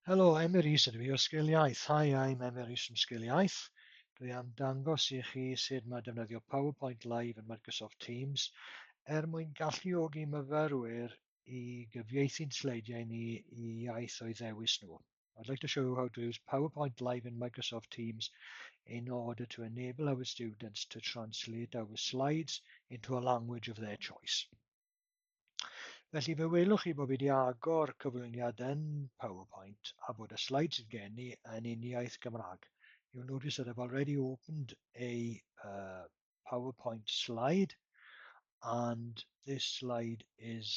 Helo, Emery sydd fi o Sgil Iaith. Hi, I'm Emery from Sgil Iaith. Dwi am dangos i chi sut mae defnyddio PowerPoint Live yn Microsoft Teams er mwyn galluogi myfyrwyr i gyfieithu'n sleidiau ni i iaith o'i ddewis nhw. I'd like to show you how to use PowerPoint Live in Microsoft Teams in order to enable our students to translate our slides into a language of their choice. Felly fe welwch chi bod fi wedi agor cyflwyniad yn PowerPoint a bod y slides sydd gen i yn uniaith Gymraeg. You'll notice that I've already opened a uh, PowerPoint slide and this slide is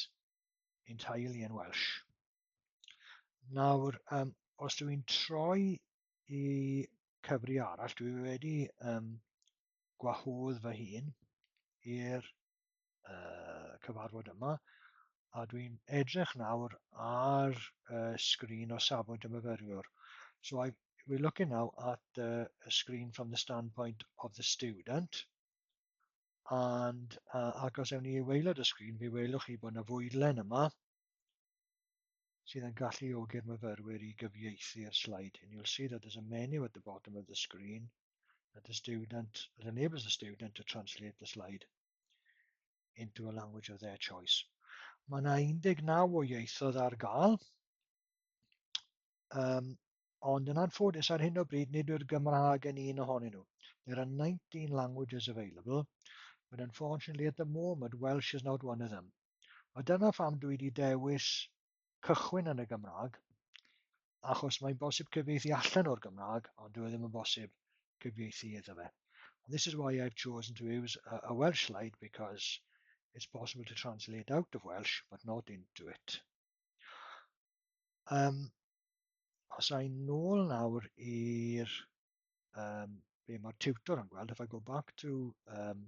entirely in Welsh. Nawr, um, os dw i'n troi i cyfri arall, dwi wedi um, gwahodd fy hun i'r uh, cyfarfod yma, a dwi'n edrych nawr ar uh, sgrin o safbwynt y myfyriwr. So I, we're looking now at the screen from the standpoint of the student, and uh, ac os ewn ni i waelod y sgrin, fe welwch chi bod yna fwydlen yma, sydd yn galluogi'r myfyrwyr i gyfieithu'r slide hyn. You'll see that there's a menu at the bottom of the screen that the student, that enables the student to translate the slide into a language of their choice. Mae yna 19 o ieithoedd ar gael, um, ond yn anffodus ar hyn o bryd nid yw'r Gymraeg yn un ohonyn nhw. There are 19 languages available, but unfortunately at the moment Welsh is not one of them. A dyna pham dwi wedi dewis cychwyn yn y Gymraeg, achos mae'n bosib cyfieithu allan o'r Gymraeg, ond dwi e ddim yn bosib cyfieithu iddo fe. And this is why I've chosen to use a, a Welsh slide, because it's possible to translate out of Welsh, but not into it. Um, os a'n nôl nawr i'r um, be mae'r tutor yn gweld, if I go back to um,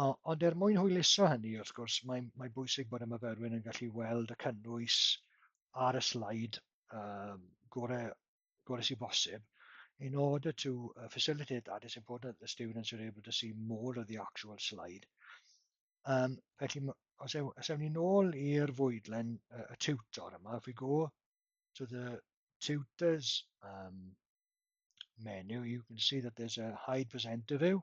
O, ond er mwyn hwyluso hynny, wrth gwrs, mae, mae bwysig bod y myfyrwyr yn gallu weld y cynnwys ar y slaid um, gore, gore sy'n bosib in order to uh, facilitate that, it's important that the students are able to see more of the actual slide. Um, felly, os ewn, os ewn ni'n ôl i'r fwydlen uh, y tutor yma, if we go to the tutors um, menu, you can see that there's a hide presenter view,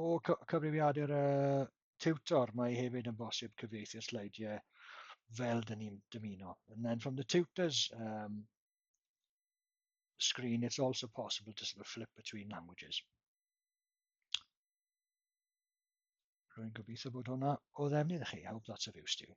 O cy- cyfrifiadur y tiwtor, mae hefyd yn bosib cyfieithu'r sleidiau fel dyn ni'n dymuno. And then from the tutor's um, screen, it's also possible to sort of flip between languages. Rwy'n gobeithio bod hwnna o ddefnydd i chi. I hope that's of use to you.